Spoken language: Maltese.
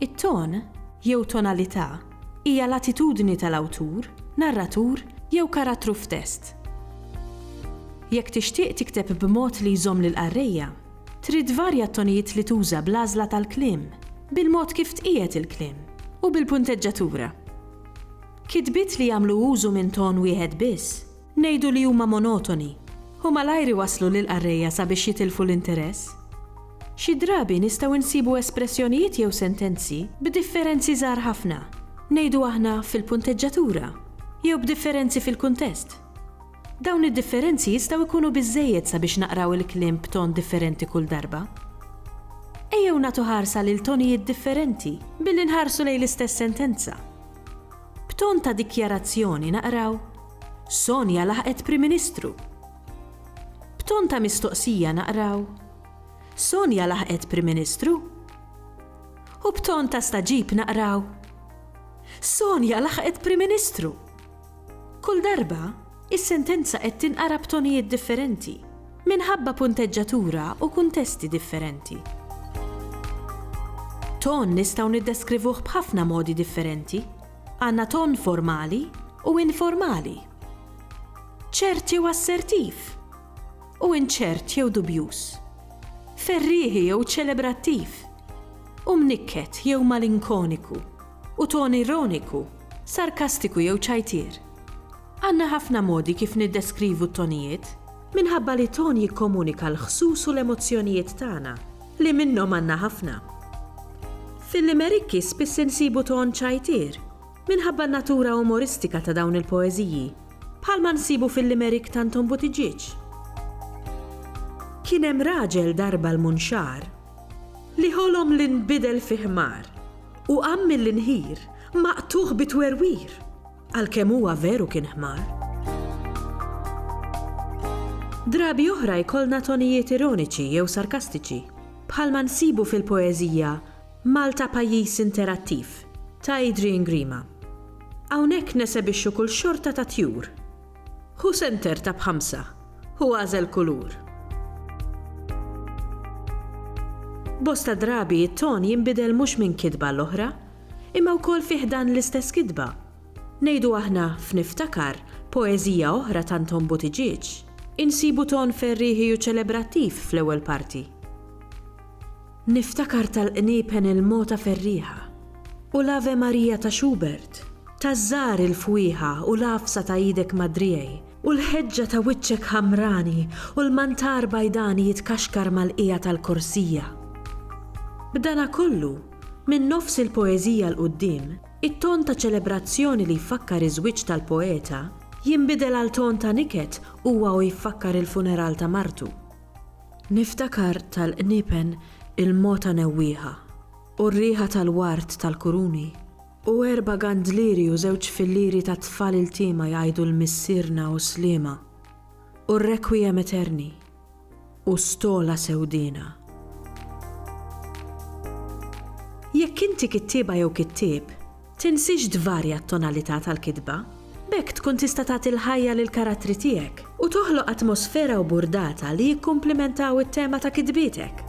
It-ton, jew tonalità, hija l-attitudni tal-awtur, narratur jew karattru f'test. Jekk tixtieq tikteb b'mod li jżomm lill-qarrejja, trid tvarja t-tonijiet li tuża bl-għażla tal-kliem, bil-mod kif tqiegħed il-kliem, u bil-punteġġatura. Kitbiet li jagħmlu użu minn ton wieħed biss Ngħidu li huma monotoni, u malajr iwasslu lill-qarrejja sabiex jitilfu l-interess. Xi drabi nistgħu nsibu espressjonijiet jew sentenzi b'differenzi żgħar ħafna, ngħidu aħna fil-punteġġatura, jew b'differenzi fil-kuntest. Dawn id-differenzi jistgħu jkunu biżżejjed sabiex naqraw il-kliem b'ton differenti kull darba. Ejjew nagħtu ħarsa lil tonijiet differenti billi nħarsu lejn l-istess sentenza. B'ton ta' dikjarazzjoni naqraw, Sonja laħqet Prim Ministru! B'ton ta' mistoqsija naqraw, Sonja laħqet Prim Ministru? U b'ton ta' staġib naqraw, Sonja laħqet Prim Ministru! Kull darba, Is-sentenza qed tinqara b'tonijiet differenti, minħabba punteġġatura u kuntesti differenti. Ton nistgħu niddeskrivuh b'ħafna modi differenti. Għandna ton formali u informali, ċert jew assertiv, u inċert jew dubjuż, ferrieħi jew ċelebrattiv, u mnikket jew malinkoniku, u ton ironiku, sarkastiku jew ċajtier. Għandna ħafna modi kif niddeskrivu t-tonijiet. Minħabba li ton jikkomunika l-ħsus u l-emozzjonijiet tagħna, li minnhom għandna ħafna. Fil-limerikki spiss insibu ton ċajtier, minħabba n-natura umoristika ta' dawn il-poeżiji, bħalma nsibu fil-limerikk ta' Anton Buttiġieġ. Kien hemm raġel darba l-munxar li ħolom li nbidel fi ħmar u qam mill-inħir maqtugħ bi twerwir. Għalkemm huwa veru kien ħmar. Drabi oħra jkollna tonijiet ironiċi jew sarkastiċi, bħalma nsibu fil-poeżija Malta Pajjiż Interattiv ta' Adrian Grima. Hawnhekk nesebixxu kull xorta ta' tjur. Hu senter ta' b'ħamsa, hu għażel kulur. Bosta drabi t-ton jinbidel mhux minn kitba għall-oħra, Imma wkoll fi ħdan l-istess kitba. Ngħidu aħna f'Niftakar, poeżija oħra ta' Anton Buttigieg, insibu ton ferrieħi u ċelebrattiv fl-ewwel parti. Niftakar tal-qniepen il-mogħta ferrieħa, u l-Ave Maria ta' Schubert, taż-żgħar il-fwieħa u l-għafsa ta' idek madriej, u l-ħeġġa ta' wiċċek ħamrani u l-mantar bajdani jitkaxkar mal-qiegħa tal-korsija. B'danakollu, Minn nofs il-poeżija 'l quddiem, it-ton ta' ċelebrazzjoni li jfakkar iż-żwieġ tal-poeta, jinbidel għal ton ta' niket huwa u jfakkar il-funeral ta' martu. Niftakar tal-qniepen il-mogħta newwieħa, u r-riħa tal-ward tal-kuruni, u erba' gandlieri u żewġ fillieri ta' tfal iltiema jgħidu l-Missierna u Sliema, u r-Requiem Aeterni. u stola sewdiena. Jekk inti kittieba jew kittieb, tinsiex tvarja t-tonalità tal-kitba. B'hekk tkun tista' tagħti l-ħajja lill-karattri tiegħek u toħloq atmosfera u burdata li jikkumplimentaw it-tema ta' kitbietek.